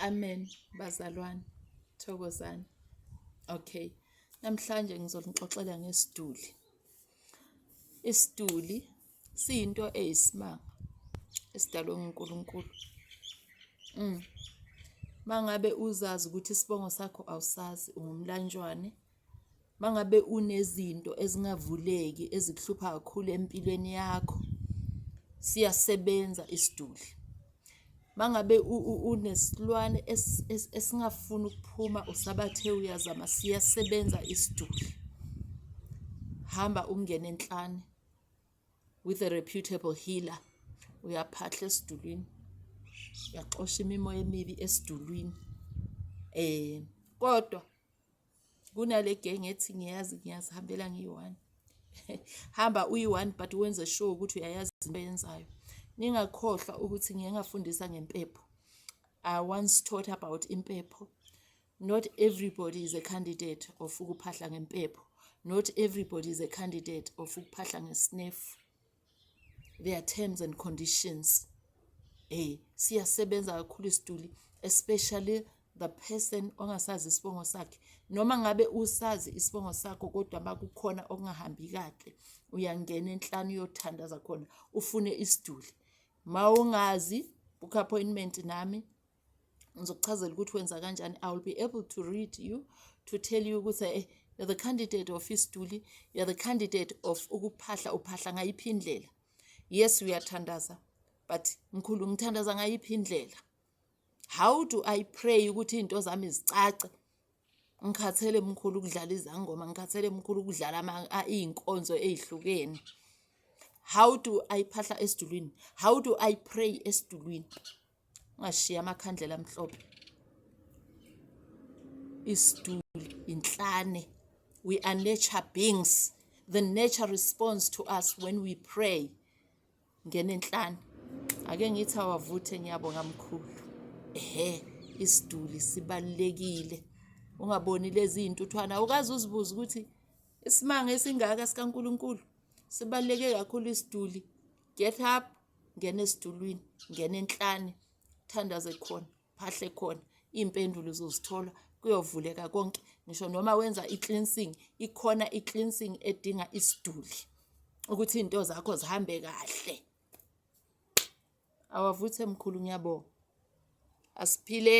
Amen bazalwane, thokozani. Okay, namhlanje ngizonixoxela ngesiduli. Isiduli siyinto eyisimanga esidalwe nguNkulunkulu. Mm. Mangabe uzazi ukuthi isibongo sakho awusazi ungumlanjwane Uma ngabe unezinto ezingavuleki ezikuhlupha kakhulu empilweni yakho, siyasebenza isiduli. Uma ngabe unesilwane esingafuni ukuphuma usabathe uyazama, siyasebenza isiduli. Hamba ungene enhlane with a reputable healer, uyaphahla esidulini, uyaxosha imimoya emibi esidulwini kodwa. kunale gang ethi ngiyazi ngiyazihambela ngiyi-one hamba uyi-one but wenze sure ukuthi uyayazi into yenzayo ningakhohlwa ukuthi ngiye ngafundisa ngempepho i once taught about impepho not everybody is a candidate of ukuphahla ngempepho not everybody is a candidate of ukuphahla ngesnefu there are terms and conditions eh siyasebenza kakhulu isituli especially the person ongasazi isibongo sakhe noma ngabe usazi isibongo sakho kodwa makukhona okungahambi kahle uyangena enhlanu uyothandaza khona ufune isiduli mawungazi book appointment nami ngizokuchazela ukuthi wenza kanjani i will be able to read you to tell you ukuthi eh, you're the candidate of isduli you're the candidate of ukuphahla uphahla ngayiphi indlela yes uyathandaza but mkhulu ngithandaza ngayiphi indlela how do i pray ukuthi into zami zicace ngikhathele mkhulu ukudlala izangoma ngikhathele mkhulu ukudlala iy'nkonzo ey'hlukene how do i phahla esidulwini how do i pray esidulwini ungashiya amakhandlela amhlophe isituli inhlane we are nature beings the nature responds to us when we pray ngenenhlane ake ngithi awavuthe ngiyabonga mkhulu ehe isiduli sibalekile ungaboni lezi intuthwana ukaze uzibuza ukuthi isimanga esingaka sikaNkuluNkulu sibaleke kakhulu isiduli get up ngena esitulwini ngena enhlane thandaze khona phahle khona iy'mpendulo uzozithola kuyovuleka konke ngisho noma wenza i-cleansing ikhona i-cleansing edinga isiduli ukuthi iy'nto zakho zihambe kahle awavuthe mkhulu ngiyabonga asiphile